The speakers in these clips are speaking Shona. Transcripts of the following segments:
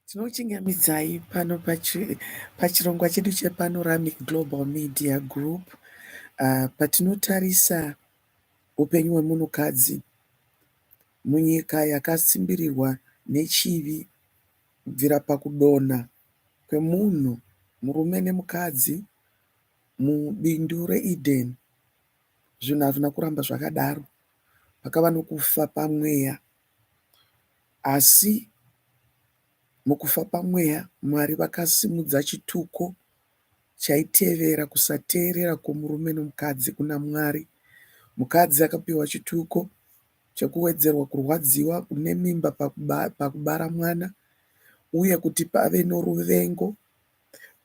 Tinokuchingamidzai pano pachirongwa chedu chePanoramic Global Media Group uh, patinotarisa upenyu hwemunhukadzi munyika yakasimbirirwa nechivi kubvira pakudonha kwemunhu murume nemukadzi mubindu reEden. Zvinhu hazvina kuramba zvakadaro. Pakava nokufa pamweya. Asi mukufa pamweya, Mwari vakasimudza chituko chaitevera kusateerera kwomurume nomukadzi kuna Mwari. Mukadzi akapiwa chituko chekuwedzerwa kurwadziwa nemimba pakubara mwana uye kuti pave noruvengo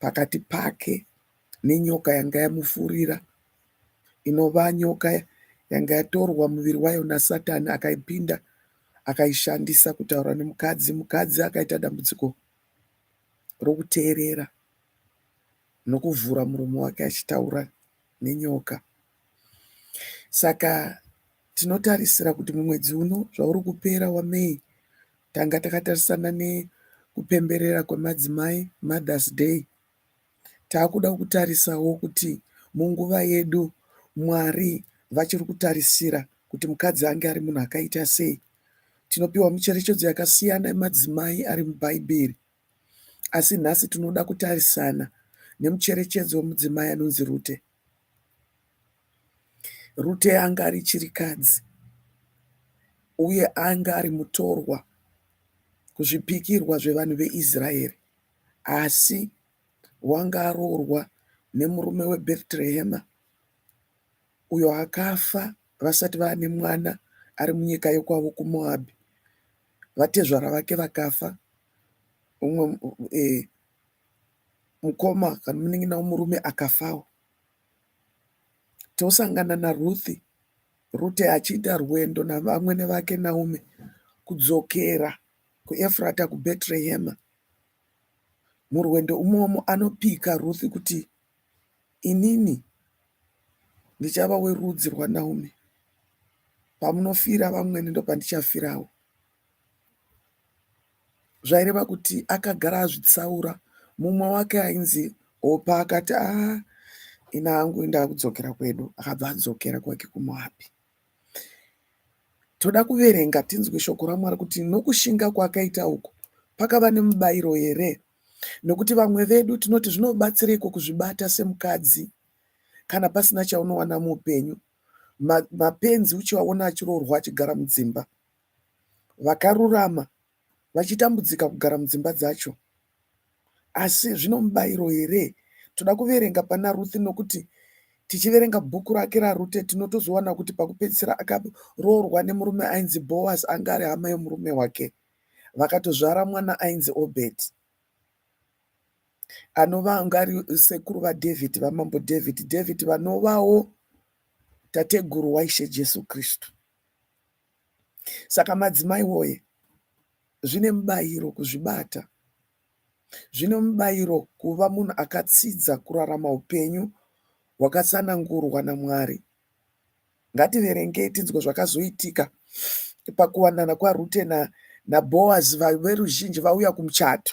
pakati pake nenyoka yanga yamufurira. inova nyoka yanga yatorwa muviri wayo naSatani akaipinda akaishandisa kutaura nemukadzi. Mukadzi akaita dambudziko rokuteerera nokuvhura muromo wake achitaura nenyoka. Saka tinotarisira kuti mumwedzi uno zvauri kupera waMay tanga takatarisana nekupemberera kwemadzimai Mothers Day Takuda kutarisawo kuti munguva yedu Mwari vachiri kutarisira kuti mukadzi ange ari munhu akaita sei. Tinopiwa mucherechedzo yakasiyana yemadzimai ari muBhaibheri, asi nhasi tinoda kutarisana nemucherechedzo wemudzimai anonzi Rute. Rute anga ari chirikadzi uye anga ari mutorwa kuzvipikirwa zvevanhu veIsraeri. Asi wanga aroorwa nemurume weBhetrehema uyo akafa vasati vaane mwana ari munyika yokwavo kuMoabhi. Vatezvara vake vakafa, umwe e, mukoma kana munin'ina womurume akafawo. Tosangana naRuthi Rute achiita rwendo navamwene vake Naume kudzokera kuEfrata kuBhetrehema. Murwendo umomo anopika Ruth kuti inini ndichava werudzi rwaNaomi. Pamunofira vamwene ndopandichafirawo. Zvaireva kuti akagara azvitsaura. Mumwe wake ainzi Opa akati, ah, ini hangu ndakudzokera kwedu. Akabva adzokera kwake kuMoabhi. Toda kuverenga tinzwe shoko raMwari kuti nokushinga kwaakaita uku pakava nemubairo here. Nokuti vamwe vedu tinoti zvinobatsireiko kuzvibata semukadzi kana pasina chaunowana muupenyu. Mapenzi uchivaona achiroorwa achigara mudzimba. Vakarurama vachitambudzika kugara mudzimba dzacho. Asi zvino mubairo here? Toda kuverenga pana Ruth nokuti tichiverenga bhuku rake raRute tinotozowana kuti pakupedzisira akaroorwa nemurume ainzi Boaz anga ari hama yomurume wake. Vakatozvara mwana ainzi Obed anova anga ari sekuru vaDhavid vamambo David. David vanovawo tateguru waIshe Jesu Kristu. Saka madzimai woye, zvine mubayiro kuzvibata. Zvine mubayiro kuva munhu akatsidza kurarama upenyu hwakatsanangurwa naMwari. Ngativerengei tinzwe zvakazoitika pakuwanana kwaRute naBhoazi, veruzhinji vauya kumuchato.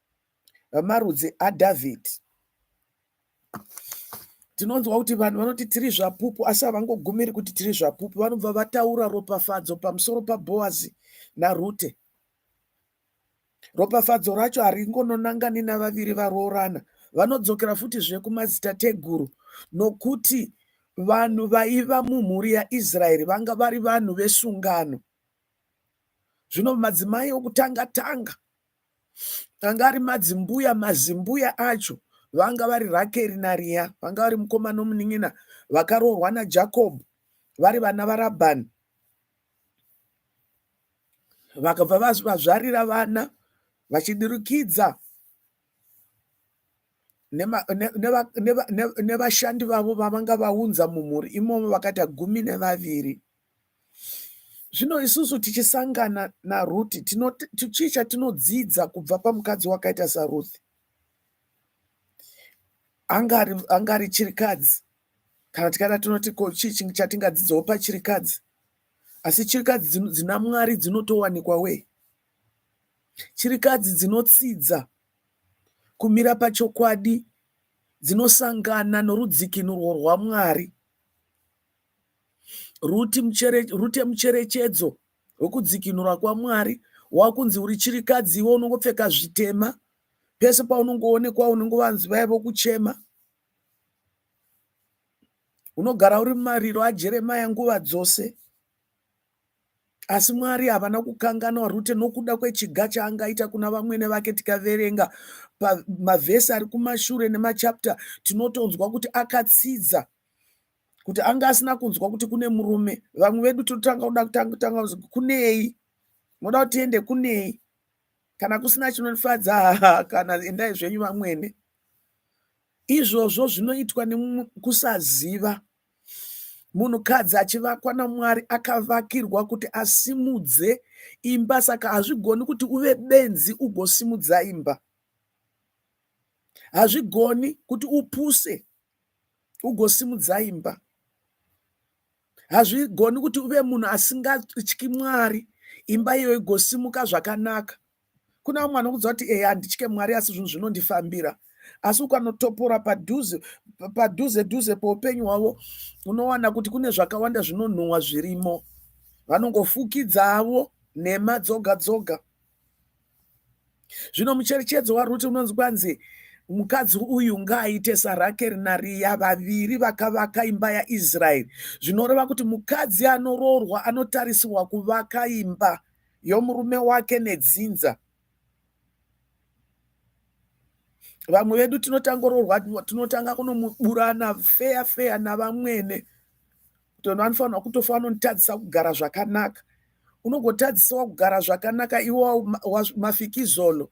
vemarudzi aDhavhidhi. Tinonzwa kuti vanhu vanoti tiri zvapupu, asi havangogumiri kuti tiri zvapupu, vanobva vataura ropafadzo pamusoro paBhoazi naRute. Ropafadzo racho haringononangani navaviri varoorana, vanodzokera futi zvekumadzitateguru, nokuti vanhu vaiva mumhuri yaIsraeri vanga vari vanhu vesungano. Zvino madzimai okutanga tanga anga ari madzimbuya mazimbuya acho vanga vari rakeri nariya vanga vari mukoma nomunin'ina vakaroorwa najacob vari vana varabhani vakabva vazvarira vana vachidirikidza nevashandi vavo vavanga vaunza mumhuri imomo vakaita gumi nevaviri Zvino isusu tichisangana naRuti, chii chatinodzidza kubva pamukadzi wakaita saRuti? Anga ari chirikadzi, kana tikada tinoti ko chii chatingadzidzawo pachirikadzi? Asi chirikadzi dzina Mwari dzinotowanikwa wee. Chirikadzi dzinotsidza kumira pachokwadi, dzinosangana norudzikinurwo rwaMwari. Ruti muchere, rute mucherechedzo wekudzikinura kwaMwari wakunzi uri chirikadzi iwe unongopfeka zvitema pese paunongoonekwa unenge vanzi vaya vokuchema unogara uri mumariro ajeremaya nguva dzose asi mwari havana kukanganwa rute nokuda kwechiga chaangaita kuna vamwene vake tikaverenga pamavhesi ari kumashure nemachapta tinotonzwa kuti akatsidza kuti anga asina kunzwa kuti kune murume vamwe vedu totanga kuda kutanga kunei moda kuti tiende kunei kana kusina chinofadza haa kana endai zvenyu vamwene izvozvo zvinoitwa nekusaziva munhukadzi achivakwa namwari akavakirwa kuti asimudze imba saka hazvigoni kuti uve benzi ugosimudza imba hazvigoni kuti upuse ugosimudza imba hazvigoni kuti uve munhu asingatyi mwari imba iyo igosimuka zvakanaka kuna vamwe vanokuudza kuti ehe handitye mwari asi zvinhu zvinondifambira asi ukanotopora padhuze padhuze dhuze poupenyu hwavo unowana kuti kune zvakawanda zvinonhuhwa zvirimo vanongofukidza avo nhema dzoga dzoga zvino mucherechedzo waruti unonzi kwanzi mukadzi uyu ngaaite sarakeri nariya vaviri vakavaka imba yaisraeri zvinoreva kuti mukadzi anoroorwa anotarisirwa kuvaka imba yomurume wake nedzinza vamwe vedu tinotangoroorwa tinotanga kunomuburana feya feya navamwene kuti vanhu vanofanirwa kutofa vanotadzisa kugara zvakanaka unogotadzisawo kugara zvakanaka iwo mafikizolo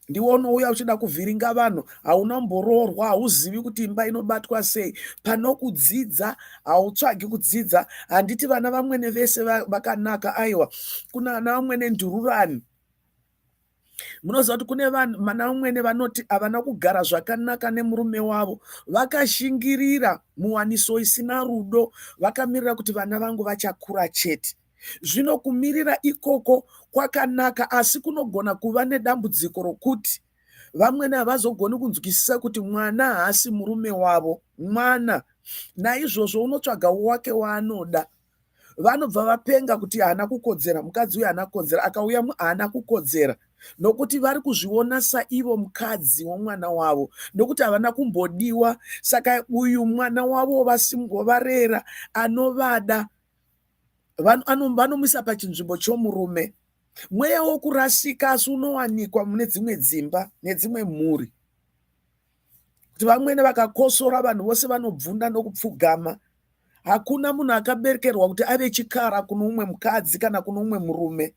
ndiwo unouya uchida kuvhiringa vanhu hauna mboroorwa hauzivi kuti imba inobatwa sei pano kudzidza hautsvagi kudzidza handiti vana vamwene vese vakanaka aiwa kuna ana vamwene ndururani munoziva kuti kune vana umwene vanoti havana kugara zvakanaka nemurume wavo vakashingirira muwaniso isina rudo vakamirira kuti vana vangu vachakura chete zvino kumirira ikoko kwakanaka asi kunogona kuva nedambudziko rokuti vamwene havazogoni kunzwisisa kuti mwana haasi murume wavo mwana naizvozvo unotsvaga wake waanoda vanobva vapenga kuti haana kukodzera mukadzi uyu haana kukodzera akauya haana kukodzera nokuti vari kuzviona saivo mukadzi womwana wavo nokuti havana kumbodiwa saka uyu mwana wavo vasimbovarera anovada vanomisa pachinzvimbo chomurume mweya wokurasika asi unowanikwa mune dzimwe dzimba nedzimwe mhuri kuti vamwene vakakosora vanhu vose vanobvunda nokupfugama hakuna munhu akaberekerwa kuti ave chikara kune umwe mukadzi kana kune umwe murume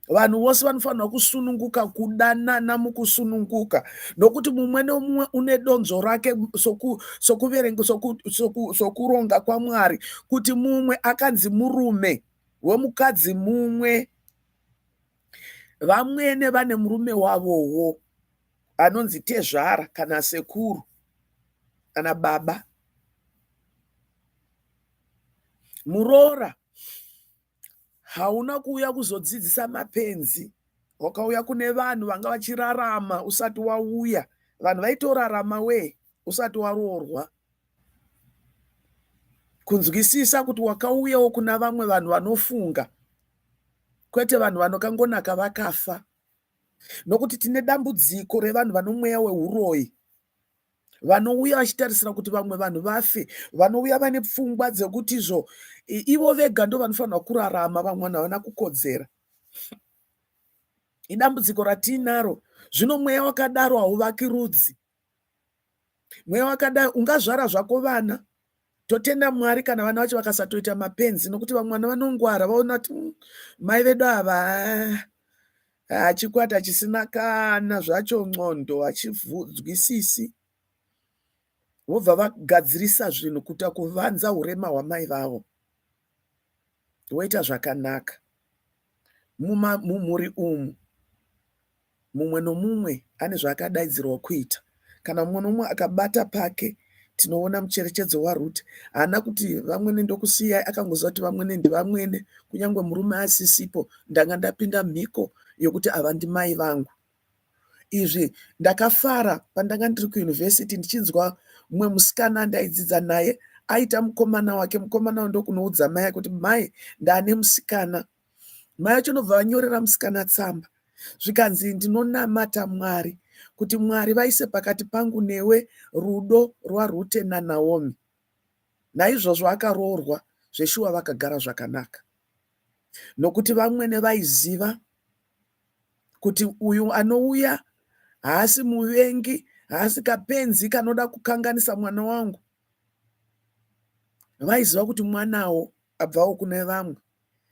vanhu vose vanofanirwa kusununguka kudanana mukusununguka nokuti mumwe nomumwe une donzo rake sokuverenga sokuronga kwamwari kuti mumwe akanzi murume wemukadzi mumwe vamwene vane murume wavowo anonzi tezvara kana sekuru kana baba muroora hauna kuuya kuzodzidzisa mapenzi wakauya kune vanhu vanga vachirarama usati wauya vanhu vaitorarama wee usati waroorwa kunzwisisa kuti wakauyawo kuna vamwe vanhu vanofunga kwete vanhu vanokangonaka vakafa nokuti tine dambudziko revanhu vanomweya weuroyi vanouya vachitarisira kuti vamwe vanhu vafe vanouya vane pfungwa dzekuti izvo ivo vega ndo vanofanirwa kurarama vamwe vanhu havana kukodzera idambudziko ratiinaro zvino mweya wakadaro hauvaki rudzi mweya wakadai ungazvara zvako vana totenda mwari kana vana vacho vakasatoita mapenzi nokuti vamwe vana vanongwara vaona kuti mm, mai vedu ava hachikwata ah, ah, chisina kana zvacho ndxondo hachivhunzwisisi vobva vagadzirisa zvinhu kuita kuvanza urema hwamai vavo woita zvakanaka mumhuri umu mumwe nomumwe ane zvaakadaidzirwa kuita kana mumwe nomumwe akabata pake tinoona mucherechedzo waruti haana kuti vamwene ndokusiyai akangoziva kuti vamwene ndivamwene kunyange murume asisipo ndanga ndapinda mhiko yokuti ava ndimai vangu izvi ndakafara pandanga ndiri kuyunivhesiti ndichinzwa mumwe musikana andaidzidza naye aita mukomana wake mukomana wa ndokunoudza mai ake kuti mai ndaane musikana mai acho ndobva vanyorera musikana tsamba zvikanzi ndinonamata mwari kuti mwari vaise pakati pangu newe rudo rwarute nanaomi naizvozvo akaroorwa zveshuwa vakagara zvakanaka nokuti vamwene vaiziva kuti uyu anouya haasi muvengi, haasi kapenzi kanoda kukanganisa mwana wangu. Vaiziva kuti mwanawo abvawo kune vamwe.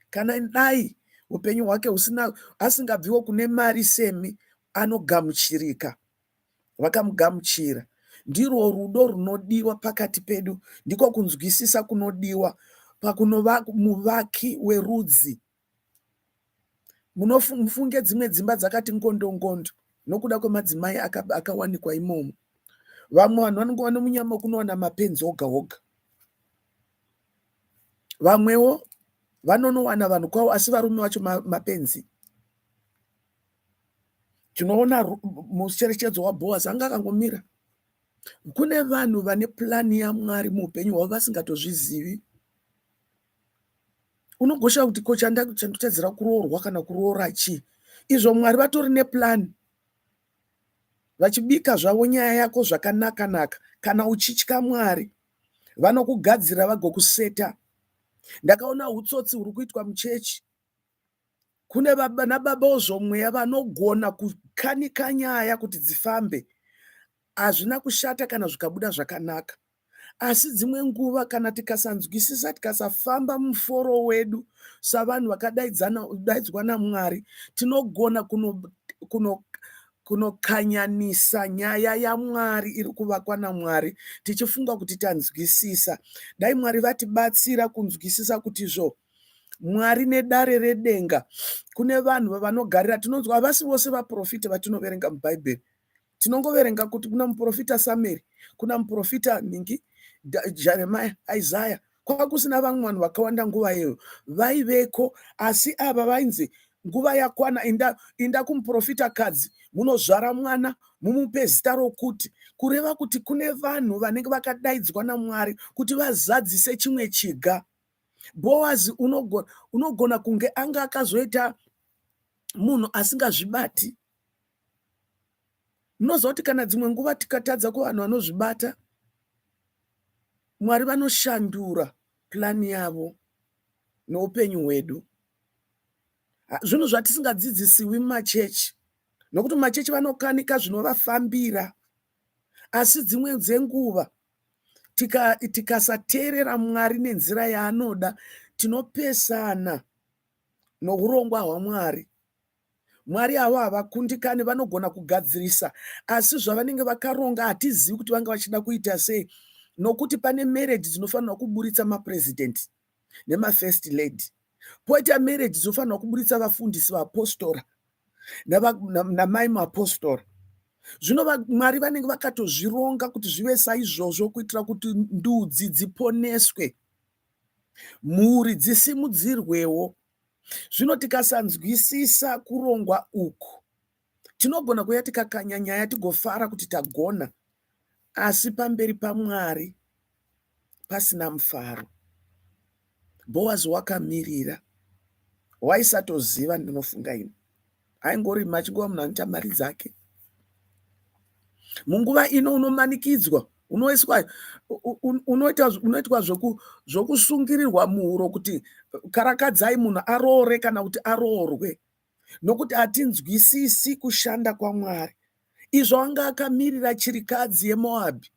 Kana dai upenyu hwake husina asingabviwo kune mari semi anogamuchirika. Vakamugamuchira. Ndirwo rudo runodiwa pakati pedu, ndiko kunzwisisa kunodiwa pakunova muvaki werudzi Munofunge dzimwe dzimba dzakati ngondongondo nokuda kwemadzimai akawanikwa imomo. Vamwe vanhu vanenge vane munyama wekunowana mapenzi oga oga. Vamwewo vanonowana vanhu kwavo asi varume vacho mapenzi. Tinoona mucherechedzo waBhoazi anga akangomira. Kune vanhu vane purani yaMwari muupenyu hwavo vasingatozvizivi. unogosha kuti ko chandotadzira kuroorwa kana kuroora chii izvo mwari vatori neplan vachibika zvavo nyaya yako zvakanaka naka kana uchitya mwari vanokugadzira vagokuseta ndakaona utsotsi huri kuitwa muchechi kune baba nababa ozvomweya vanogona kukanika nyaya kuti dzifambe hazvina kushata kana zvikabuda zvakanaka asi dzimwe nguva kana tikasanzwisisa tikasafamba muforo wedu savanhu vakadaidzwa namwari tinogona kunokanyanisa kuno nyaya yamwari iri kuvakwa namwari tichifunga kuti tanzwisisa dai mwari vatibatsira kunzwisisa kuti zvo mwari nedare redenga kune vanhu vavanogarira tinonzwa havasi vose vaprofita vatinoverenga mubhaibheri Tinongoverenga kuti kuna muprofita Samueri, kuna muprofita ningi Jeremiah, Isaiah, kwanga kusina vamwe vanhu vakawanda nguva iyoyo vaiveko, asi ava vainzi nguva yakwana, inda, inda kumuprofita kadzi munozvara mwana mumupe zita rokuti, kureva kuti kune vanhu vanenge vakadaidzwa naMwari kuti vazadzise chimwe chiga. Boazi unogona, unogona kunge anga akazoita munhu asingazvibati munoziva kuti kana dzimwe nguva tikatadza kuvanhu vanozvibata mwari vanoshandura plani yavo noupenyu hwedu zvinhu zvatisingadzidzisiwi mumachechi nokuti mumachechi vanokanika zvinovafambira asi dzimwe dzenguva tikasateerera tika mwari nenzira yaanoda tinopesana nourongwa hwamwari Mwari avo havakundikani, vanogona kugadzirisa, asi zvavanenge vakaronga hatizivi kuti vanga vachida kuita sei, nokuti pane marriage dzinofanirwa kuburitsa mapresident nemafirst lady, poita marriage dzinofanirwa kuburitsa vafundisi vaapostora namai muapostora. Zvino Mwari vanenge vakatozvironga kuti zvive saizvozvo kuitira kuti ndudzi dziponeswe, mhuri dzisimudzirwewo. Zvino tikasanzwisisa kurongwa uku, tinogona kuya tikakanya nyaya tigofara kuti tagona, asi pamberi paMwari pasina mufaro. Boazi wakamirira, waisatoziva ndinofunga ini, aingorima achingova munhu anoita mari dzake munguva ino unomanikidzwa unoiswa unoita unoitwa zvoku zvokusungirirwa muhuro kuti karakadzai munhu aroore kana kuti aroorwe nokuti hatinzwisisi kushanda kwamwari izvo anga akamirira chirikadzi yemoabhi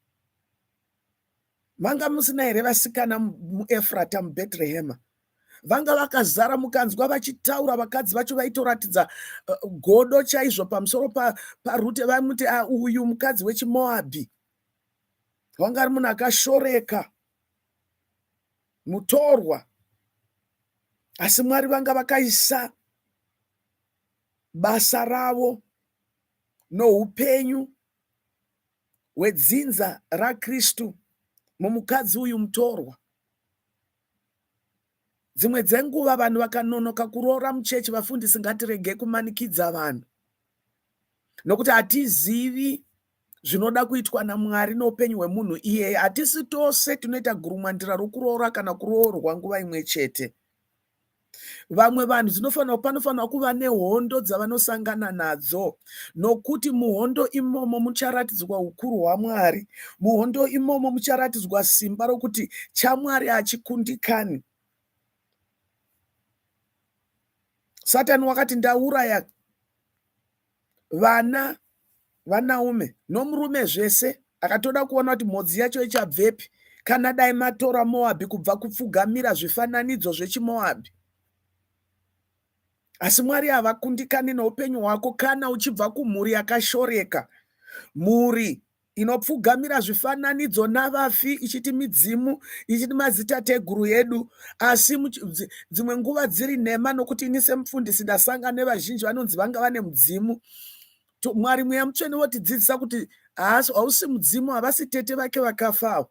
manga musina here vasikana muefrata mubhetrehema vanga vakazara mukanzwa vachitaura vakadzi vacho vaitoratidza eh, godo chaizvo pamusoro parute vamuti ah, uyu mukadzi wechimoabhi wanga ari munhu akashoreka mutorwa asi mwari vanga vakaisa basa ravo noupenyu hwedzinza raKristu mumukadzi uyu mutorwa. Dzimwe dzenguva vanhu vakanonoka kuroora muchechi, vafundisi ngatirege kumanikidza vanhu nokuti hatizivi zvinoda kuitwa naMwari noupenyu hwemunhu iyeye. Hatisi tose tinoita gurumwandira rokuroora kana kuroorwa nguva imwe chete. vamwe vanhu dzinofanira panofanira kuva nehondo dzavanosangana nadzo nokuti muhondo imomo mucharatidzwa ukuru hwamwari muhondo imomo mucharatidzwa simba rokuti chamwari hachikundikani satani wakati ndauraya vana vanaume nomurume zvese akatoda kuona kuti mhodzi yacho ichabvepi kana dai matora moabhi kubva kupfugamira zvifananidzo zvechimoabhi asi mwari havakundikani neupenyu hwako kana uchibva kumhuri yakashoreka mhuri inopfugamira zvifananidzo navafi ichiti midzimu ichiti mazitateguru edu asi dzimwe nguva dziri nhema nokuti ini semufundisi ndasanga nevazhinji vanonzi vanga vane mudzimu mwari mweya mutsvene votidzidzisa kuti haasi hausi mudzimu havasi tete vake vakafa avo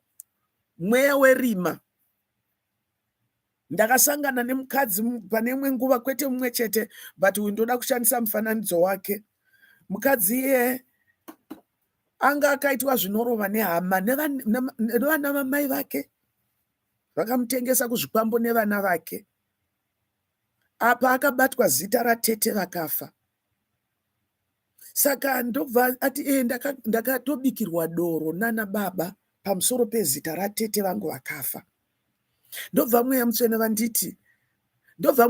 mweya werima ndakasangana nemukadzi pane imwe nguva kwete mumwe chete but uyu ndoda kushandisa mufananidzo wake mukadzi iye anga akaitwa zvinorova nehama nevana vamai vake vakamutengesa kuzvikwambo nevana vake apa akabatwa zita ratete vakafa saka ndobva ati e ndakatobikirwa ndaka doro nana baba pamusoro pezita ratete vangu vakafa ndobva mweya mutsvene vanditi ndobva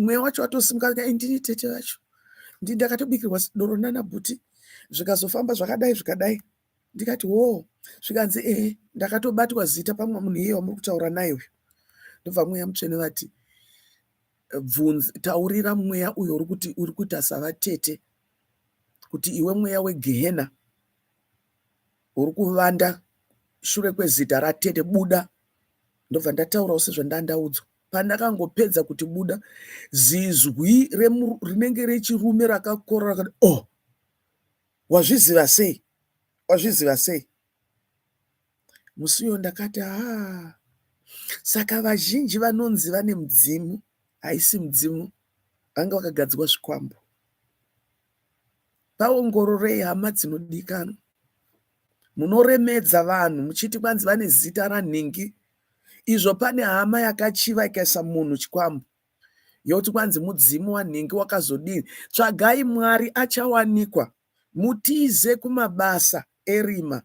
mweya wacho watosimuka ndini tete vacho ndi ndakatobikirwa doro nana bhuti zvikazofamba zvakadai zvikadai ndikati wo zvikanzi ehe ndakatobatwa zita pamwe munhu iye wamuri kutaura naye uyu ndobva mweya mutsvene vati bvunzi taurira mweya uyo uri kuti uri kuita savatete kuti iwe mweya wegehena uri kuvanda shure kwezita ratete buda ndobva ndataurawo sezvandandaudzwa pandakangopedza kuti buda zizwi rinenge rechirume rakakorora rakati oh wazviziva sei wazviziva sei Musi uyo ndakati haa saka vazhinji vanonzi vane mudzimu haisi mudzimu vanga vakagadzirwa zvikwambo paongororei hama dzinodikanwa munoremedza vanhu muchiti kwanzi vane zita ranhingi izvo pane hama yakachiva ikaisa munhu chikwambo yoti kwanzi mudzimu wanhingi wakazodii tsvagai mwari achawanikwa mutize kumabasa erima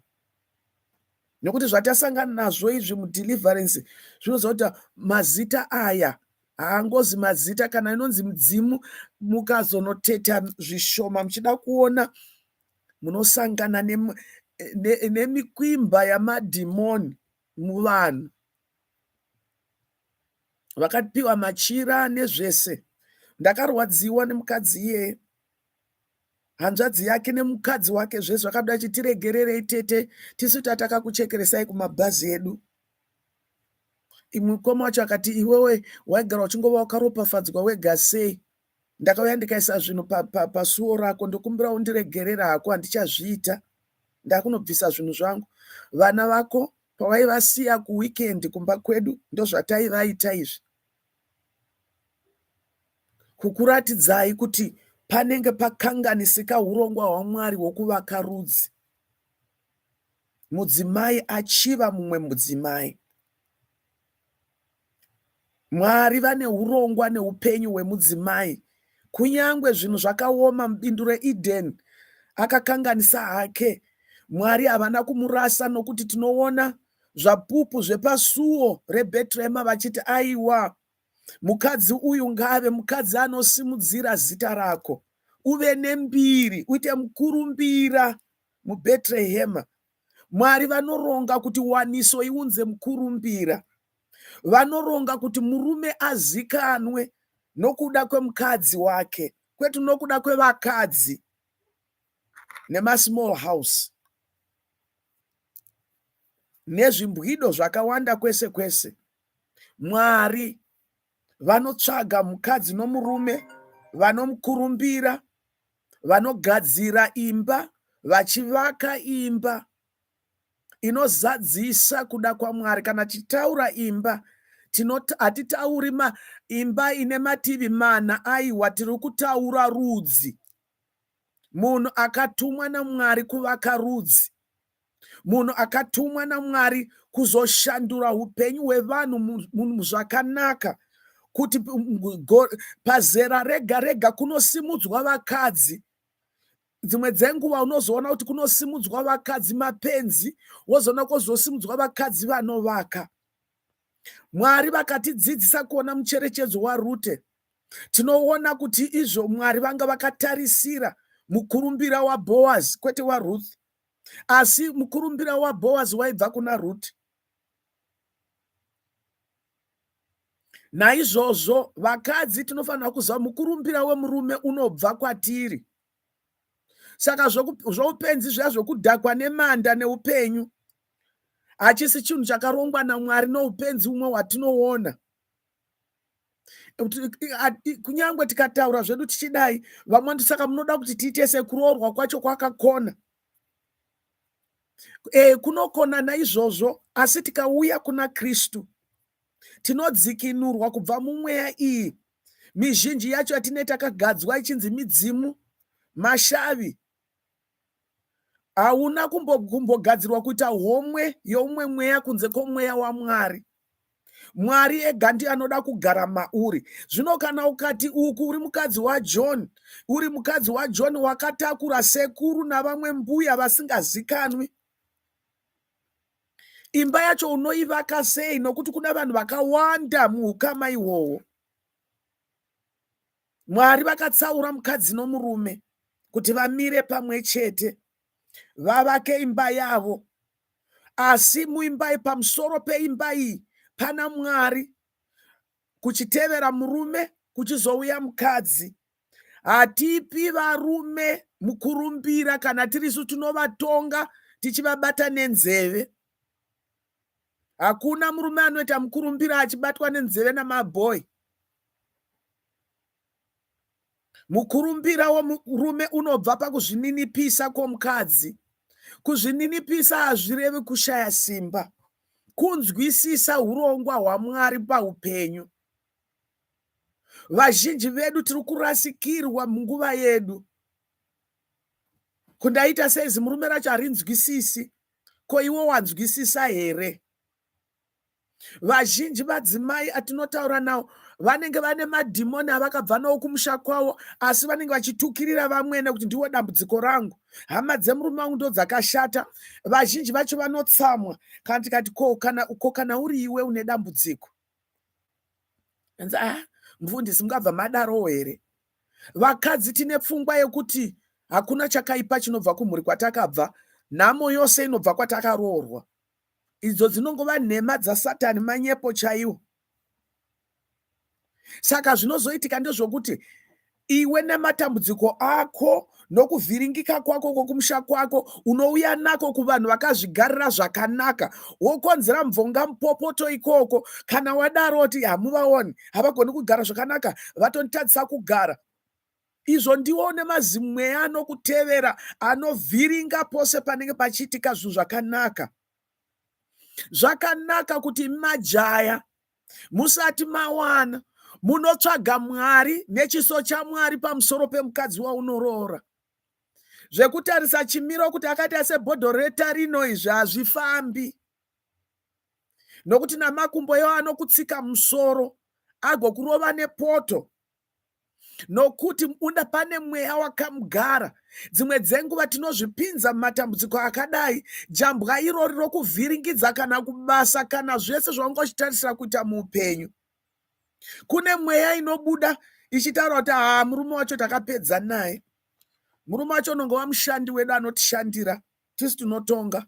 nekuti zvatasangana nazvo izvi mudeliverance zvinoziva kuti mazita aya haangozi mazita kana inonzi mudzimu mukazonoteta zvishoma muchida kuona munosangana nemikwimba ne, ne yamadhimoni muvanhu vakapiwa machira nezvese ndakarwadziwa nemukadzi iyeye hanzvadzi yake nemukadzi wake zve zvakabuda chi tiregererei tete tisu tataka kuchekeresai kumabhazi edu imwe mukoma wacho akati iwewe waigara uchingova wakaropafadzwa wega sei ndakauya ndikaisa zvinhu pasuo pa, pa rako ndokumbira undiregerera hako handichazviita ndakunobvisa zvinhu zvangu vana vako pavaivasiya kuweekend kumba kwedu ndozvataivaita izvi kukuratidzai kuti panenge pakanganisika urongwa hwaMwari hwokuvaka rudzi. Mudzimai achiva mumwe mudzimai. Mwari vane urongwa neupenyu hwemudzimai. Kunyange zvinhu zvakaoma mubindu reEdeni, akakanganisa hake. Mwari havana kumurasa nokuti tinoona zvapupu zvepasuo rebetrehema vachiti aiwa mukadzi uyu ngaave mukadzi anosimudzira zita rako uve nembiri uite mukurumbira mubetrehema mwari vanoronga kuti waniso iunze mukurumbira vanoronga kuti murume azikanwe nokuda kwemukadzi wake kwetu nokuda kwevakadzi nemasmall house nezvimbwido zvakawanda kwese kwese mwari vanotsvaga mukadzi nomurume vanomukurumbira vanogadzira imba vachivaka imba inozadzisa kuda kwamwari kana tichitaura imba hatitauri imba ine mativi mana aiwa tiri kutaura rudzi munhu akatumwa namwari kuvaka rudzi munhu akatumwa namwari kuzoshandura upenyu hwevanhu zvakanaka kuti pazera rega rega kunosimudzwa vakadzi dzimwe dzenguva unozoona kuti kunosimudzwa vakadzi mapenzi wozoona kozosimudzwa vakadzi vanovaka mwari vakatidzidzisa kuona mucherechedzo warute Tinoona kuti izvo Mwari vanga vakatarisira mukurumbira waBhoazi kwete waRuth asi mukurumbira waBhoazi waibva kuna Ruth. Naizvozvo vakadzi tinofanira kuziva mukurumbira wemurume unobva kwatiri. Saka zvoupenzi zviya zvokudhakwa nemanda neupenyu hachisi chinhu chakarongwa naMwari noupenzi umwe watinoona. kunyange tikataura zvedu tichidai vamwe ndi saka munoda kuti tiite sekuroorwa kwacho kwakakona e, kunokona naizvozvo asi tikauya kuna kristu tinodzikinurwa kubva mumweya iyi mizhinji yacho yatine takagadzwa ichinzi midzimu mashavi hauna kumbogadzirwa kuita homwe youmwe mweya kunze kwomweya wamwari mwari ega ndiye anoda kugara mauri zvino kana ukati uku uri mukadzi wajohn uri mukadzi wajohn wakatakura sekuru navamwe mbuya vasingazikanwi imba yacho unoivaka sei nokuti kuna vanhu vakawanda muukama ihwohwo mwari vakatsaura mukadzi nomurume kuti vamire pamwe chete vavake imba yavo asi muimba iyi pamusoro peimba iyi pana mwari kuchitevera murume kuchizouya mukadzi hatipi varume mukurumbira kana tirisu tinovatonga tichivabata nenzeve hakuna murume anoita mukurumbira achibatwa nenzeve namabhoy Mukurumbira womurume unobva pakuzvininipisa kwomukadzi. Kuzvininipisa hazvirevi kushaya simba, kunzwisisa urongwa hwaMwari paupenyu. Vazhinji vedu tiri kurasikirwa munguva yedu. Kundaita seizi murume racho harinzwisisi, ko iwo wanzwisisa here? vazhinji vadzimai atinotaura nawo vanenge vane madhimoni avakabva nawo kumusha kwavo asi vanenge vachitukirira vamwene kuti ndiwo dambudziko rangu hama dzemurume wangu ndo dzakashata vazhinji vacho vanotsamwa kana tikati ko kana, ko kana uri iwe une dambudziko anzi ah mufundisi mungabva madarowo here vakadzi tine pfungwa yekuti hakuna chakaipa chinobva kumhuri kwatakabva nhamo yose inobva kwatakaroorwa idzo dzinongova nhema dzasatani manyepo chaiwo saka zvinozoitika ndezvokuti iwe nematambudziko ako nokuvhiringika kwako kwokumusha kwako unouya nako kuvanhu vakazvigarira zvakanaka wokonzera mvonga mupopoto ikoko kana wadaro oti hamuvaoni havagoni kugara zvakanaka vatonditadzisa kugara izvo ndiwo une mazimweya anokutevera anovhiringa pose panenge pachiitika zvinhu zvakanaka zvakanaka kuti majaya musati mawana munotsvaga mwari nechiso chamwari pamusoro pemukadzi waunoroora zvekutarisa chimiro kuti akaita sebhodho retarino izvi hazvifambi nokuti namakumbo yo anokutsika musoro agokurova nepoto nokuti munda pane mweya wakamugara dzimwe dzenguva tinozvipinza mumatambudziko akadai jambwa irori rokuvhiringidza kana kubasa kana zvese zvaungochitarisira kuita muupenyu kune mweya inobuda ichitaura kuti haa murume wacho takapedza naye murume wacho unonge wamushandi wedu anotishandira tisi tinotonga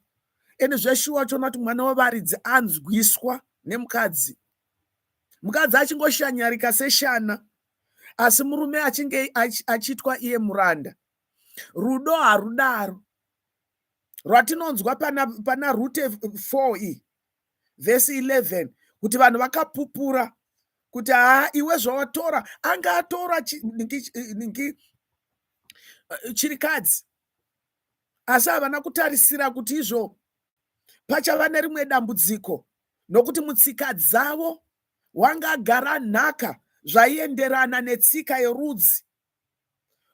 ende zveshuwa choona kuti mwana wevaridzi anzwiswa nemukadzi mukadzi achingoshanyarika seshana asi murume achinge achiitwa iye muranda rudo harudaro rwatinonzwa pana, pana rute 4 iyi vhesi 11 kuti vanhu vakapupura kuti haa iwe zvawatora anga atora ningi eh, chirikadzi asi havana kutarisira kuti izvo pachava nerimwe dambudziko nokuti mutsika dzavo wanga agara nhaka zvaienderana netsika yerudzi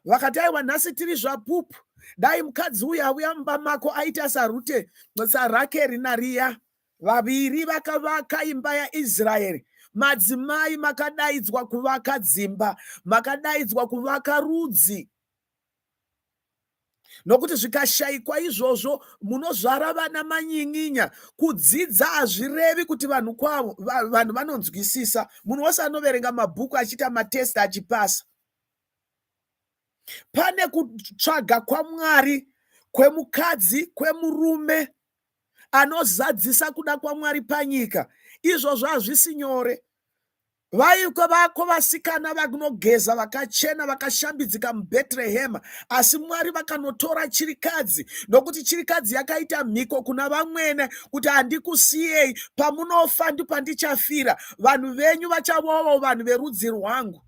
vakati aiwa nhasi tiri zvapupu dai mukadzi uyu auya mumba mako aita sarute sarakeri nariya vaviri vakavaka imba yaisraeri madzimai makadaidzwa kuvaka dzimba makadaidzwa kuvaka rudzi nokuti zvikashaikwa izvozvo munozvara vana manyin'inya kudzidza hazvirevi kuti vanhu kwavo vanhu vanonzwisisa munhu wose anoverenga mabhuku achiita matest achipasa pane kutsvaga kwamwari kwemukadzi kwemurume anozadzisa kuda kwamwari panyika izvozvo hazvisi nyore Vaiko vako vasikana vakunogeza vakachena vakashambidzika muBhetrehema, asi Mwari vakanotora chirikadzi, nokuti chirikadzi yakaita mhiko kuna vamwene kuti handikusiyei, pamunofa ndipo pandichafira, vanhu venyu vachavowo vanhu verudzi rwangu.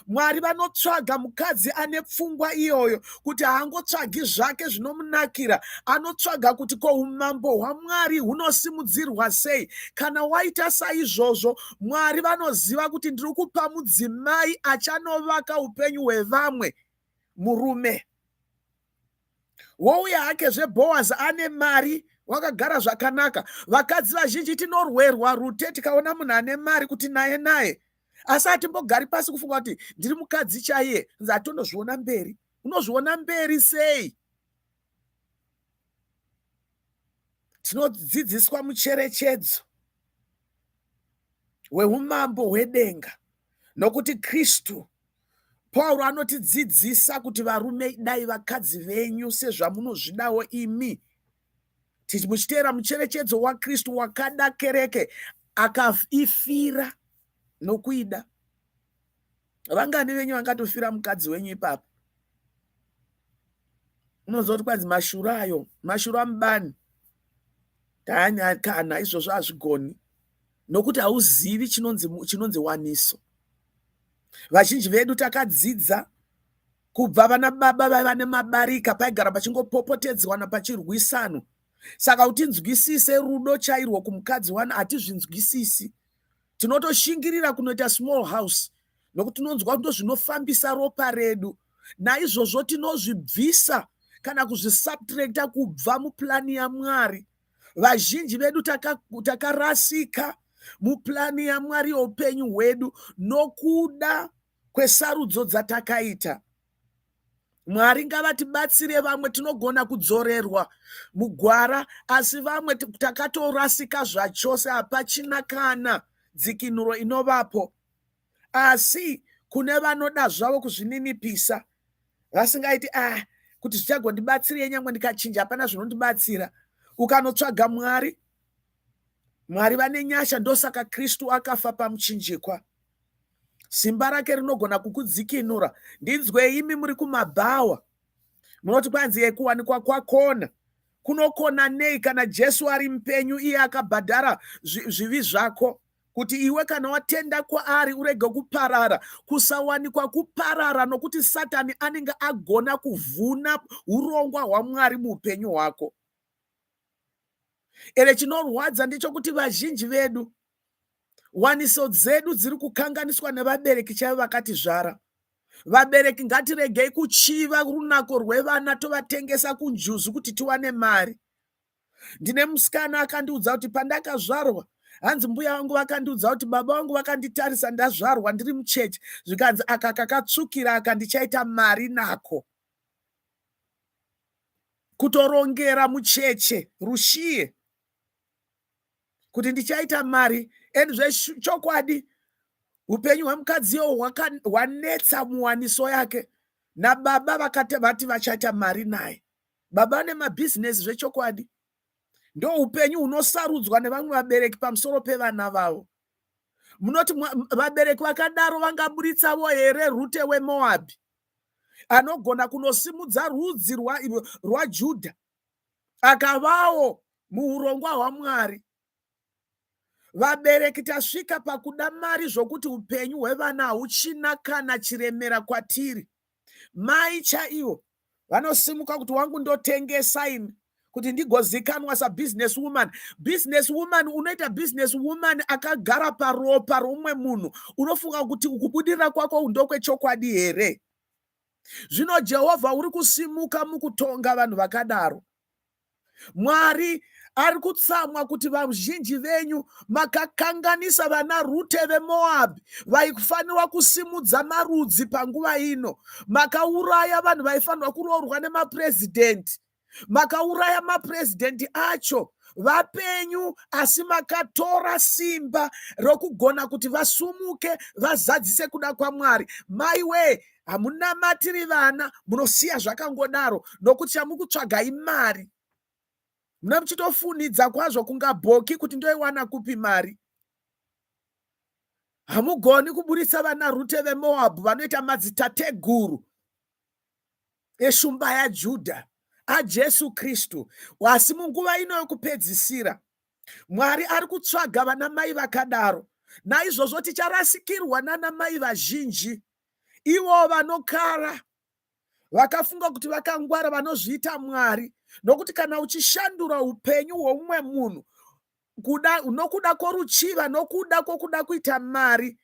mwari vanotsvaga mukadzi ane pfungwa iyoyo kuti haangotsvagi zvake zvinomunakira anotsvaga kuti ko umambo hwamwari hunosimudzirwa sei kana waita saizvozvo mwari vanoziva kuti ndiri kupa mudzimai achanovaka upenyu hwevamwe murume wouya hake zveboazi ane mari wakagara zvakanaka vakadzi vazhinji tinorwerwa rute tikaona munhu ane mari kuti naye naye asi hatimbogari pasi kufunga kuti ndiri mukadzi chaiye nzi hatondozviona mberi unozviona mberi sei tinodzidziswa mucherechedzo weumambo hwedenga nokuti kristu pauro anotidzidzisa kuti varume idai vakadzi venyu sezvamunozvidawo imi muchiteera mucherechedzo wakristu wakada kereke akaifira nokuida vangani venyu vangatofira mukadzi wenyu ipapo unoziva kuti kwanzi mashura ayo mashura mubani taanyakana izvozvo hazvigoni nokuti hauzivi chinonzi waniso vazhinji vedu takadzidza kubva vana baba vaiva nemabarika paigara pachingopopotedzwana pachirwisano saka kuti nzwisise rudo chairwo kumukadzi wani hatizvinzwisisi tinotoshingirira kunoita small house nokuti tinonzwa kuti ndozvinofambisa ropa redu naizvozvo tinozvibvisa kana kuzvisubtracta kubva muplani yamwari vazhinji vedu takarasika taka mupulani yamwari youpenyu hwedu nokuda kwesarudzo dzatakaita. Mwari ngavatibatsire vamwe tinogona kudzorerwa mugwara asi vamwe takatorasika zvachose hapachina kana dzikinuro inovapo. Asi kune vanoda zvavo kuzvininipisa vasingaiti ah kuti zvichagondibatsirei nyangwe ndikachinja hapana zvinondibatsira ukanotsvaga mwari mwari vane nyasha ndosaka kristu akafa pamuchinjikwa simba rake rinogona kukudzikinura ndinzwei imi muri kumabhawa munoti kwanzi yekuwanikwa kwakona kunokona nei kana jesu ari mupenyu iye akabhadhara zvivi zvako kuti iwe kana watenda kwaari urege kuparara kusawanikwa kuparara nokuti satani anenge agona kuvhuna urongwa hwamwari muupenyu hwako ere chinorwadza ndechokuti vazhinji vedu waniso dzedu dziri kukanganiswa nevabereki chaivo vakatizvara vabereki ngatiregei kuchiva runako rwevana tovatengesa kunjuzu kuti tiwane mari ndine musikana akandiudza kuti pandakazvarwa hanzi mbuya vangu vakandiudza kuti baba vangu vakanditarisa ndazvarwa ndiri muchechi zvikanzi aka kakatsvukira aka ndichaita mari nako kutorongera mucheche rushiye kuti ndichaita mari and zvechokwadi upenyu hwemukadzi iwo hwanetsa muwaniso yake nababa vakati vati vachaita mari naye baba vane mabhizinesi zvechokwadi ndo upenyu hunosarudzwa nevamwe vabereki pamusoro pevana vavo munoti vabereki vakadaro vangaburitsavo here rute wemoabhi anogona kunosimudza rudzi rwajudha akavawo muurongwa hwamwari vabereki tasvika pakuda mari zvokuti upenyu hwevana hauchina kana chiremera kwatiri mai chaivo vanosimuka kuti wangu ndotengesa ini kuti ndigozikanwa sabusiness woman business woman unoita business woman akagara paropa romwe munhu unofunga kuti kubudirira kwako ndokwechokwadi here zvino jehovha uri kusimuka mukutonga vanhu vakadaro mwari ari kutsamwa kuti vazhinji venyu makakanganisa vana rute vemoabhi vaifanirwa kusimudza marudzi panguva ino makauraya vanhu vaifanirwa kuroorwa nemapurezidhendi makauraya mapresident acho vapenyu asi makatora simba rokugona kuti vasumuke vazadzise kuda kwamwari mai wee hamunamatiri vana munosiya zvakangodaro nokuti chamukutsvaga imari muna muchitofunhidza kwazvo kunga bhoki kuti ndoiwana kupi mari hamugoni kuburitsa vana rute vemoabhu vanoita madzitateguru eshumba yaJudha aJesu Kristu. Asi munguva ino yokupedzisira, Mwari ari kutsvaga vana mai vakadaro. Naizvozvo ticharasikirwa nana mai vazhinji, ivo vanokara vakafunga kuti vakangwara, vanozviita Mwari. Nokuti kana uchishandura upenyu hwomumwe munhu kuda nokuda kworuchiva nokuda kwokuda kuita mari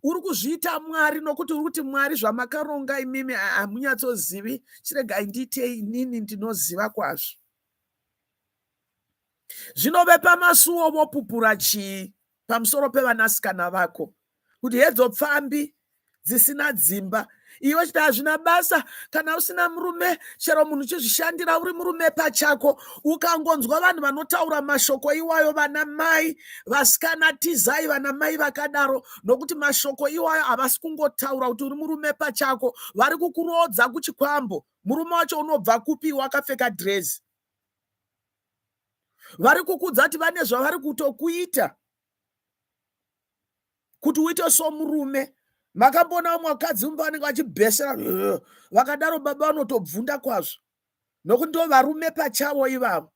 uri kuzviita mwari nokuti uri kuti mwari zvamakaronga imimi hamunyatsozivi chiregai ndiite inini ndinoziva kwazvo zvino vepamasuwo vopupura chii pamusoro pevanasikana vako kuti hedzo pfambi dzisina dzimba iwe chiti hazvina basa kana usina murume chero munhu chizvishandira uri murume pachako ukangonzwa vanhu vanotaura mashoko iwayo vana mai vasikana tizai vana mai vakadaro nokuti mashoko iwayo havasi kungotaura kuti uri murume pachako vari kukuroodza kuchikwambo murume wacho unobva kupi wakapfeka dresi vari kukudza kuti vane zvavari kutokuita kuti uite somurume makamboona vamwe vakadzi mumba vanenge vachibhesera vakadaro baba vanotobvunda kwazvo nokuti ndo varume pachavo ivavo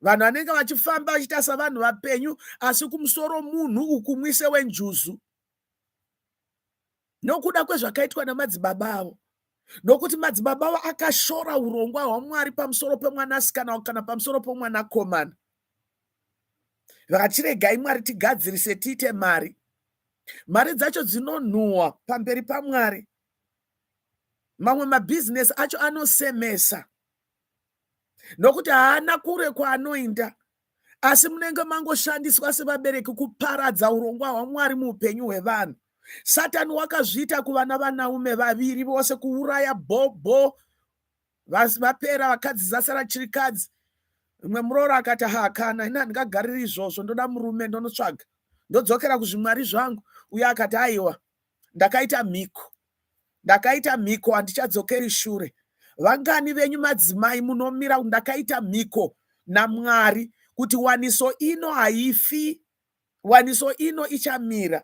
vanhu vanenge vachifamba vachiita savanhu vapenyu asi kumusoro munhu ukumwise wenjuzu nokuda kwezvakaitwa namadzibaba avo nokuti madzibaba avo akashora urongwa hwamwari pamusoro pemwanasikana kana pamusoro pomwanakomana vakachiregai mwari tigadzirise tiite mari mari dzacho dzinonhuhwa pamberi pamwari mamwe mabhizinesi acho anosemesa nokuti haana kure kwaanoinda asi munenge mangoshandiswa sevabereki kuparadza urongwa hwamwari muupenyu hwevanhu satani wakazviita kuvana vanaume vaviri vose kuuraya bhobho vapera vakadzi zasara chirikadzi imwe muroora akati ha kana ini handingagariri izvozvo ndoda murume ndonotsvaga ndodzokera kuzvimwari zvangu uye akati aiwa ndakaita mhiko ndakaita mhiko handichadzokeri shure vangani venyu madzimai munomira ndakaita mhiko namwari kuti waniso ino haifi waniso ino ichamira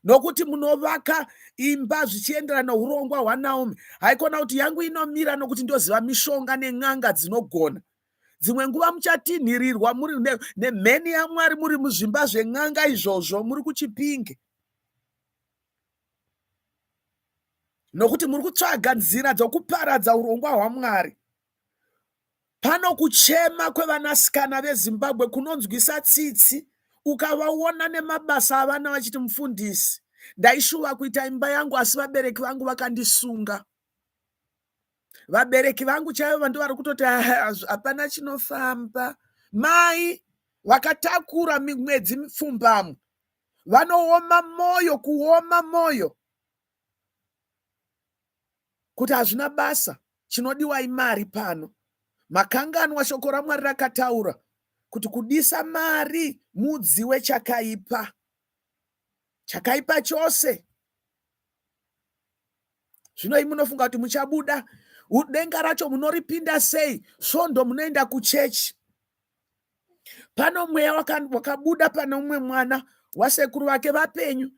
nokuti munovaka imba zvichienderana nourongwa hwanaomi haikona kuti yangu inomira nokuti ndoziva mishonga nen'anga dzinogona dzimwe nguva muchatinhirirwa muri nemheni yamwari muri muzvimba zven'anga izvozvo muri kuchipinge nokuti muri kutsvaga nzira dzokuparadza urongwa hwaMwari. Pano kuchema kwevanasikana veZimbabwe kunonzwisa tsitsi ukavaona nemabasa avana vachiti mufundisi ndaishuva kuita imba yangu asi vabereki vangu vakandisunga vabereki vangu chaivo vandi vari kutoti ah, hapana chinofamba mai vakatakura mwedzi mipfumbamwe vanooma moyo kuoma moyo kuti hazvina basa chinodiwa imari pano makanganwa shoko ramwari rakataura kuti kudisa mari mudzi wechakaipa chakaipa chose zvino imi munofunga kuti muchabuda denga racho munoripinda sei svondo munoenda kuchechi pano mweya wakabuda pane umwe mwana wasekuru vake vapenyu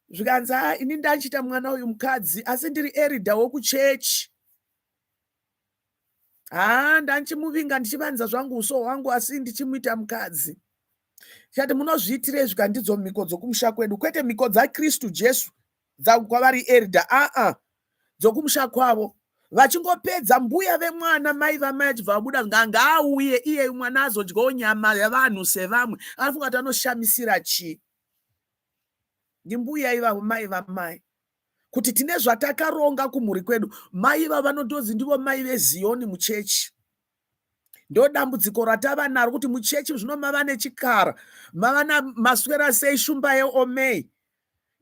zvikanzi a ah, ini ndandichiita mwana uyu mukadzi asi ndiri erida wokuchechi haa ah, ndandichimuvinga ndichivanza zvangu uso hwangu asi ndichimuita mukadzi chati munozviitire izvi kandidzo mhiko dzokumusha kwedu kwete mhiko dzakristu jesu kwavari erida aa dzokumusha kwavo vachingopedza mbuya vemwana mai vamai achibva vabuda nganga auye iye mwana azodyawo nyama yavanhu sevamwe anofunga kuti anoshamisira chii ndimbuya ivavo mai vamai kuti tine zvatakaronga kumhuri kwedu mai vavanotonzi ndivo mai veziyoni muchechi ndo dambudziko ratava naro kuti muchechi zvino mava nechikara mava namaswera sei shumba yeomei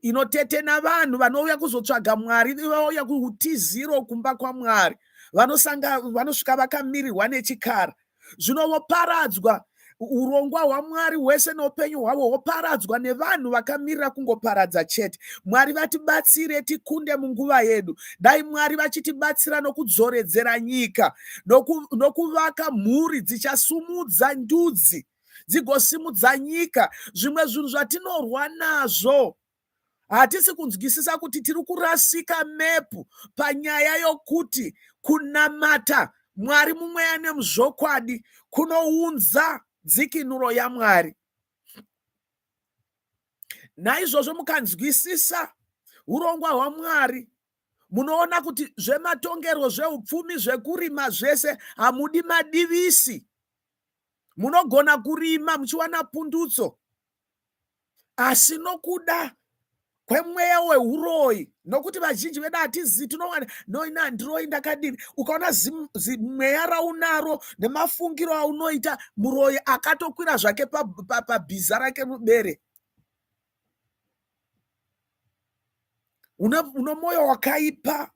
inotetena vanhu vanouya kuzotsvaga mwari vauya kuutiziro kumba kwamwari vanosanga vanosvika vakamirirwa nechikara zvino voparadzwa urongwa hwamwari hwese noupenyu hwavo hwoparadzwa nevanhu vakamirira kungoparadza chete mwari vatibatsire tikunde munguva yedu dai mwari vachitibatsira nokudzoredzera nyika nokuvaka noku mhuri dzichasumudza ndudzi dzigosimudza nyika zvimwe zvinhu zvatinorwa nazvo hatisi kunzwisisa kuti tiri kurasika mepu panyaya yokuti kunamata mwari mumweya nemuzvokwadi kunounza dzikinuro yamwari naizvozvo mukanzwisisa urongwa hwamwari munoona kuti zvematongerwo zveupfumi zvekurima zvese hamudi madivisi munogona kurima muchiwana pundutso asi nokuda kwemweya weuroyi nokuti vazhinji vedu hatizivi tinowana noina ndiroyi ndakadini ukaona zimweya raunaro nemafungiro aunoita muroyi akatokwira zvake pabhiza rake mubere uno mwoyo wakaipa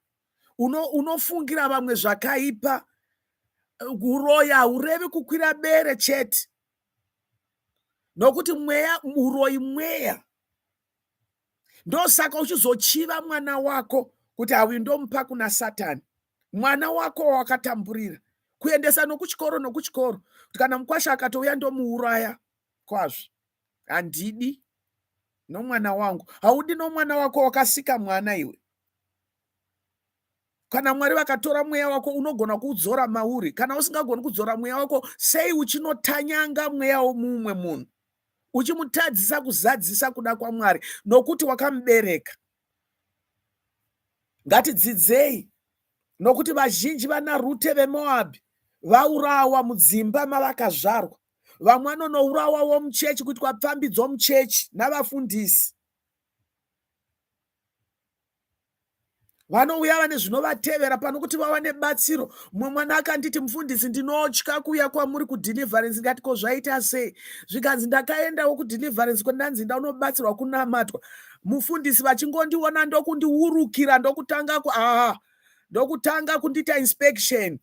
unofungira vamwe zvakaipa uroyi haurevi kukwira bere chete nokuti mweya uroyi mweya ndosaka uchizochiva mwana wako kuti auyu ndomupa kuna satani mwana wako wawakatamburira kuendesa nokuchikoro nokuchikoro kuti kana mukwasha akatouya ndomuuraya kwazvo handidi nomwana wangu haudi nomwana wako wakasika mwana iwe kana mwari vakatora mweya wako unogona kuudzora mauri kana usingagoni kudzora mweya wako sei uchinotanyanga mweya womumwe munhu uchimutadzisa kuzadzisa kuda kwamwari nokuti wakamubereka ngatidzidzei nokuti vazhinji vana rute vemoabhi vaurawa mudzimba mavakazvarwa vamwe vanonourawawo muchechi kuitwa pfambi dzomuchechi navafundisi vanouya vane zvinovatevera pano kuti vawane batsiro mumwe mwana akanditi mufundisi ndinotya kuuya kwamuri kudeliverance ndikati ko zvaita sei zvikanzi ndakaendawo kudeliverance kwendanzi ndaunobatsirwa kunamatwa mufundisi vachingondiona ndokundiurukira ndokutanga ku aa ah, ndokutanga kundiita inspection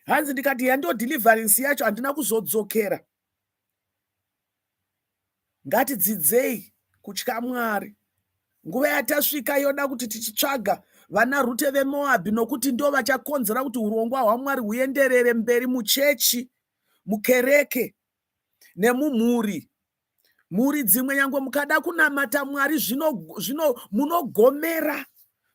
hanzi ndikati yando deliverance yacho handina kuzodzokera Ngatidzidzei kutya Mwari. Nguva yatasvika yoda kuti tichitsvaga vana Rute veMoabhi nokuti ndo vachakonzera kuti urongwa hwaMwari huenderere mberi muchechi, mukereke nemumhuri. Mhuri dzimwe nyange mukada kunamata Mwari zvino, zvino munogomera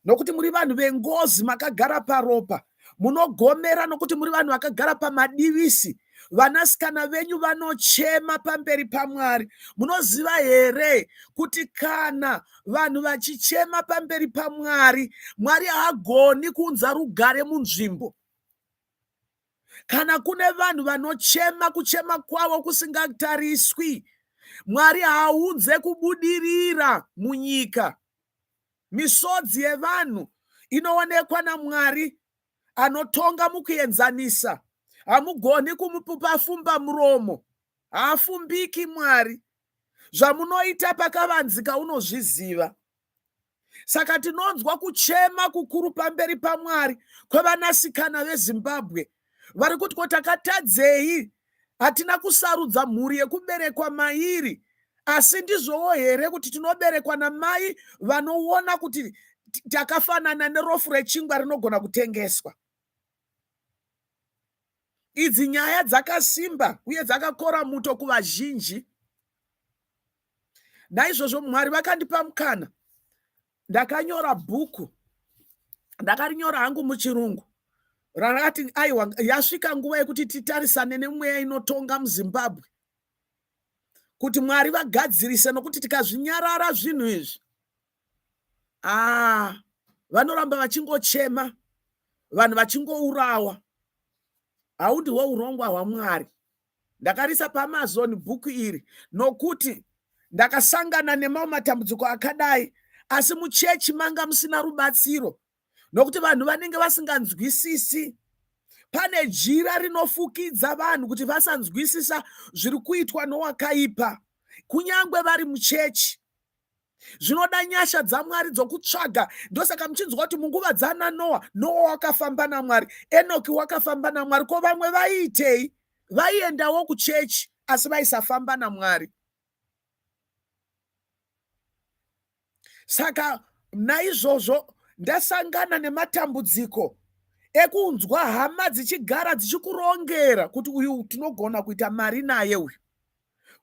nokuti muri vanhu vengozi makagara paropa munogomera nokuti muri vanhu vakagara pamadivisi vanasikana venyu vanochema pamberi pamwari munoziva here kuti kana vanhu vachichema pamberi pamwari mwari haagoni kuunza rugare munzvimbo kana kune vanhu vanochema kuchema kwavo kusingatariswi mwari haaunze kubudirira munyika Misodzi yevanhu inoonekwa naMwari anotonga mukuenzanisa. Hamugoni kumupupa fumba muromo, haafumbiki Mwari. Zvamunoita pakavanzika unozviziva. Saka tinonzwa kuchema kukuru pamberi paMwari kwevanasikana veZimbabwe vari kuti ko takatadzei hatina kusarudza mhuri yekuberekwa mairi asi ndizvowo here kuti tinoberekwa namai vanoona kuti takafanana nerofu rechingwa rinogona kutengeswa idzi nyaya dzakasimba uye dzakakora muto kuvazhinji naizvozvo mwari vakandipa mukana ndakanyora bhuku ndakarinyora hangu muchirungu rarakati aiwa yasvika nguva yekuti titarisane nemweya inotonga muzimbabwe kuti mwari vagadzirise nokuti tikazvinyarara zvinhu izvi aa ah, vanoramba vachingochema vanhu vachingourawa haundi hwourongwa hwamwari ndakarisa paamazon bhuku iri nokuti ndakasangana nemamwe matambudziko akadai asi muchechi manga musina rubatsiro nokuti vanhu vanenge vasinganzwisisi pane jira rinofukidza vanhu kuti vasanzwisisa zviri kuitwa nowakaipa kunyange vari muchechi zvinoda nyasha dzamwari dzokutsvaga ndosaka muchinzwa kuti munguva dzana noa noa wakafamba namwari enoki wakafamba namwari ko vamwe vaiitei vaiendawo kuchechi asi vaisafamba namwari saka naizvozvo ndasangana nematambudziko ekunzwa hama dzichigara dzichikurongera kuti uyu tinogona kuita mari naye uyu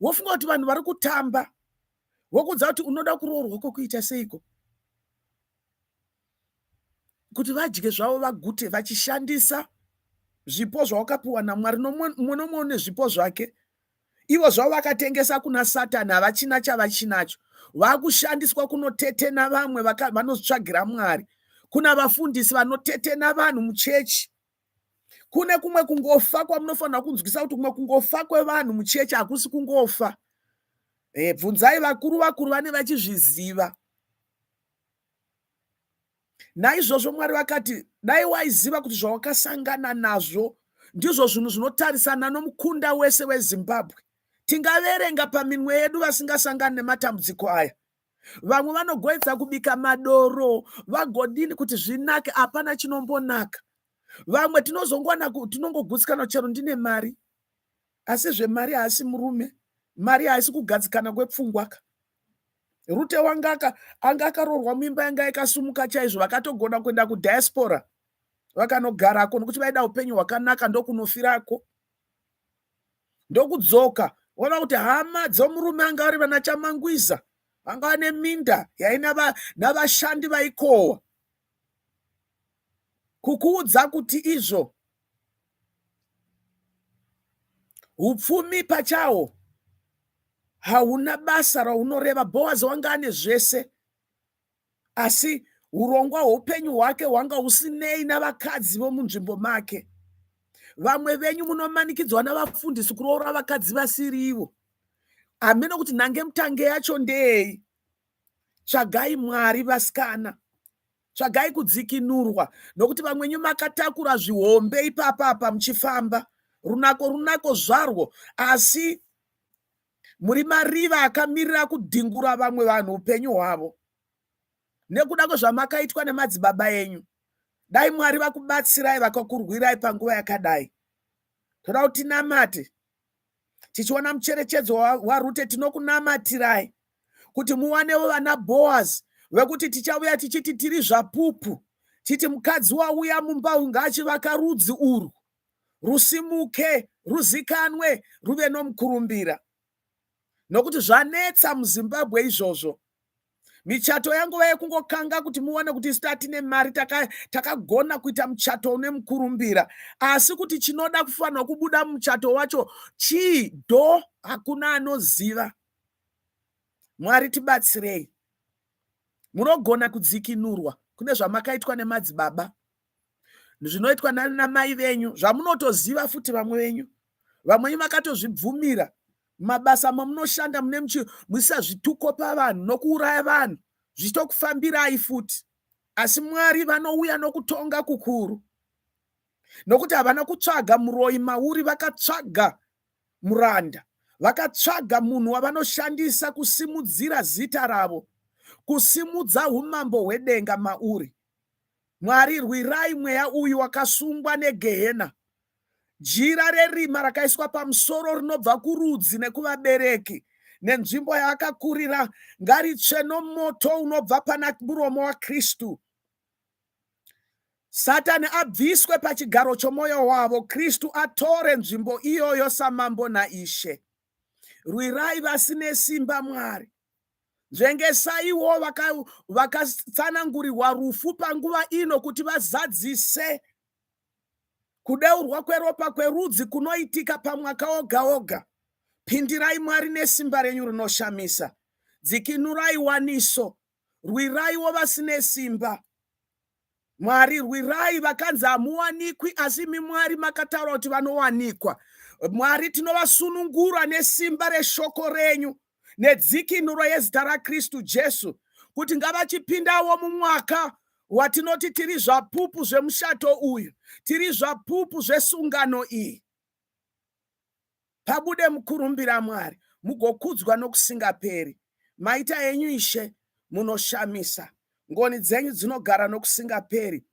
wofunga kuti vanhu vari kutamba wokudza kuti unoda kuroorwa kwokuita seiko kuti vadye zvavo vagute vachishandisa zvipo zvawakapiwa namwari nomumwe nomwe une zvipo zvake ivo zvavo vakatengesa kuna satani havachina chavachinacho vakushandiswa kunotetena vamwe vanotsvagira mwari kuna vafundisi vanotetena vanhu muchechi kune kumwe kungofa kwamunofanira kunzwisa kuti kumwe kungofa kwevanhu muchechi hakusi kungofa e, bvunzai vakuru vakuru vane vachizviziva naizvozvo mwari vakati dai waiziva kuti zvawakasangana nazvo ndizvo zvinhu zvinotarisana nomukunda wese wezimbabwe tingaverenga paminwe yedu vasingasangani nematambudziko aya vamwe vanogoedza kubika madoro vagodini kuti zvinake hapana chinombonaka vamwe tinozongowana tinongogutsikana chero ndine mari asi zvemari haasi murume mari haisi kugadzikana kwepfungwaka rute wangaka anga akaroorwa muimba yanga ikasumuka chaizvo vakatogona kuenda kudiaspora vakanogarako nokuti vaida upenyu hwakanaka ndokunofirako ndokudzoka ona kuti hama dzomurume anga ari vana chamangwiza vanga vane minda yaina navashandi vaikohwa kukuudza kuti izvo upfumi pachawo hauna basa raunoreva boaz wanga ane zvese asi urongwa hweupenyu hwake hwanga husinei navakadzi vomunzvimbo make vamwe venyu munomanikidzwa navafundisi kuroora vakadzi vasiri ivo hameno kuti nhange mutange yacho ndeyei tsvagai mwari vasikana tsvagai kudzikinurwa nokuti vamwenyu makatakura zvihombe ipapapa muchifamba runako runako zvarwo asi muri mariva akamirira kudhingura vamwe vanhu upenyu hwavo nekuda kwezvamakaitwa nemadzibaba enyu dai mwari vakubatsirai vakakurwirai panguva yakadai toda kuti tinamate tichiona mucherechedzo warute tinokunamatirai kuti muwanewo vana boaz vekuti tichauya tichiti tiri zvapupu titi mukadzi wauya mumba ungaachivaka rudzi urwu rusimuke, ruzikanwe, ruve nomukurumbira. Nokuti zvanetsa muZimbabwe izvozvo. Michato yanguva yekungokanga kuti muone kuti isu tatine mari takagona taka kuita muchato une mukurumbira. Asi kuti chinoda kufanirwa kubuda muchato wacho chii do hakuna anoziva. Mwari tibatsirei. Munogona kudzikinurwa kune zvamakaitwa nemadzibaba zvinoitwa nanamai venyu zvamunotoziva futi vamwe venyu vamwe venyu vakatozvibvumira mabasa mamunoshanda mune muisa zvituko pavanhu nokuuraya vanhu zvichitokufambirai futi asi mwari vanouya nokutonga kukuru nokuti havana kutsvaga muroyi mauri vakatsvaga muranda vakatsvaga munhu wavanoshandisa kusimudzira zita ravo kusimudza umambo hwedenga mauri Mwari rwirai mweya uyu wakasungwa negehena. Jira rerima rakaiswa pamusoro rinobva kurudzi nekuvabereki nenzvimbo yaakakurira ngaritsve nomoto unobva pana muromo waKristu. Satani abviswe pachigaro chomwoyo wavo, Kristu atore nzvimbo iyoyo samambo naIshe. Rwirai vasine simba Mwari. Nzvengesaiwo vakatsanangurirwa rufu panguva ino kuti vazadzise kudeurwa kweropa kwerudzi kunoitika pamwaka oga oga. Pindirai Mwari nesimba renyu rinoshamisa. Dzikinurai waniso. Rwiraiwo vasine simba. Mwari rwirai vakanzi hamuwanikwi asi imi Mwari makataura kuti vanowanikwa. Mwari tinovasunungura nesimba reshoko renyu nedzikinuro yezita raKristu Jesu kuti ngavachipindawo mumwaka watinoti tiri zvapupu zvemushato uyu, tiri zvapupu zvesungano iyi. pabude mukurumbira Mwari, mugokudzwa nokusingaperi. Maita enyu Ishe, munoshamisa, ngoni dzenyu dzinogara nokusingaperi.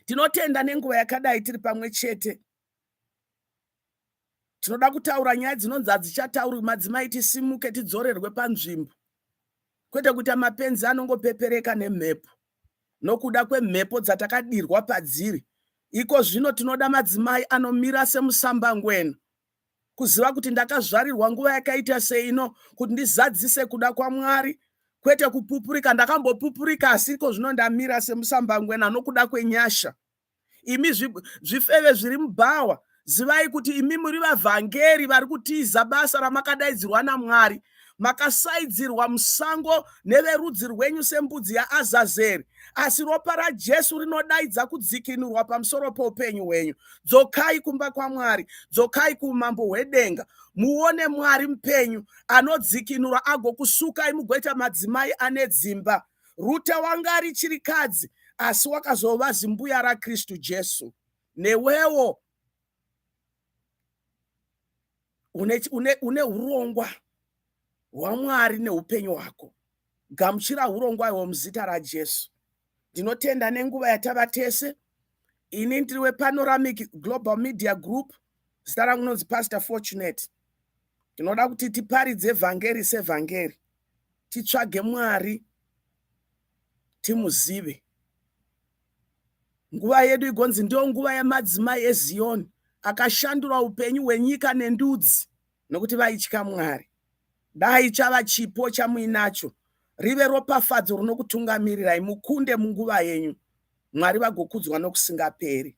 Tinotenda nenguva yakadai tiri pamwe chete. Tinoda kutaura nyaya dzinonzi hadzichataurwi, madzimai tisimuke tidzorerwe panzvimbo, kwete kuita mapenzi anongopepereka nemhepo. nokuda kwemhepo dzatakadirwa padziri. Iko zvino tinoda madzimai anomira semusambangwena. Kuziva kuti ndakazvarirwa nguva yakaita seino kuti ndizadzise kuda kwaMwari kwete kupupurika. Ndakambopupurika asi iko zvino ndamira semusambangwena nokuda kwenyasha. imi zvifeve zviri mubhawa zivai kuti imi muri vavhangeri vari kutiza basa ramakadaidzirwa namwari makasaidzirwa musango neverudzi rwenyu sembudzi yaazazeri asi ropa rajesu rinodaidza kudzikinurwa pamusoro poupenyu hwenyu dzokai kumba kwamwari dzokai kuumambo hwedenga muone mwari mupenyu anodzikinura agokusukai mugoita madzimai ane dzimba Ruta wanga ari chirikadzi asi wakazova zimbuya raKristu Jesu. Newewo une, une, une urongwa hwaMwari neupenyu hwako. Gamuchira urongwa ihwo muzita raJesu. Ndinotenda nenguva yatava tese. Ini ndiri wePanoramic Global Media Group. Zita rangu nonzi Pastor Fortunate. Tinoda kuti tiparidze vhangeri sevhangeri, titsvage Mwari, timuzive. Nguva yedu igonzi ndiyo nguva yemadzimai eZiyoni akashandura upenyu hwenyika nendudzi nokuti vaitya Mwari. Dai chava chipo chamuinacho rive ropafadzo rinokutungamirirai mukunde munguva yenyu, Mwari vagokudzwa nokusingaperi.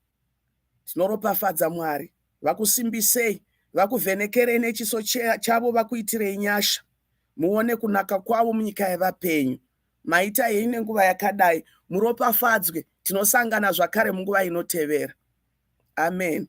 Tinoropafadza Mwari vakusimbisei vakuvhenekerei nechiso chavo vakuitirei nyasha muone kunaka kwavo munyika yevapenyu maita henyu nenguva yakadai muropafadzwe tinosangana zvakare munguva inotevera amen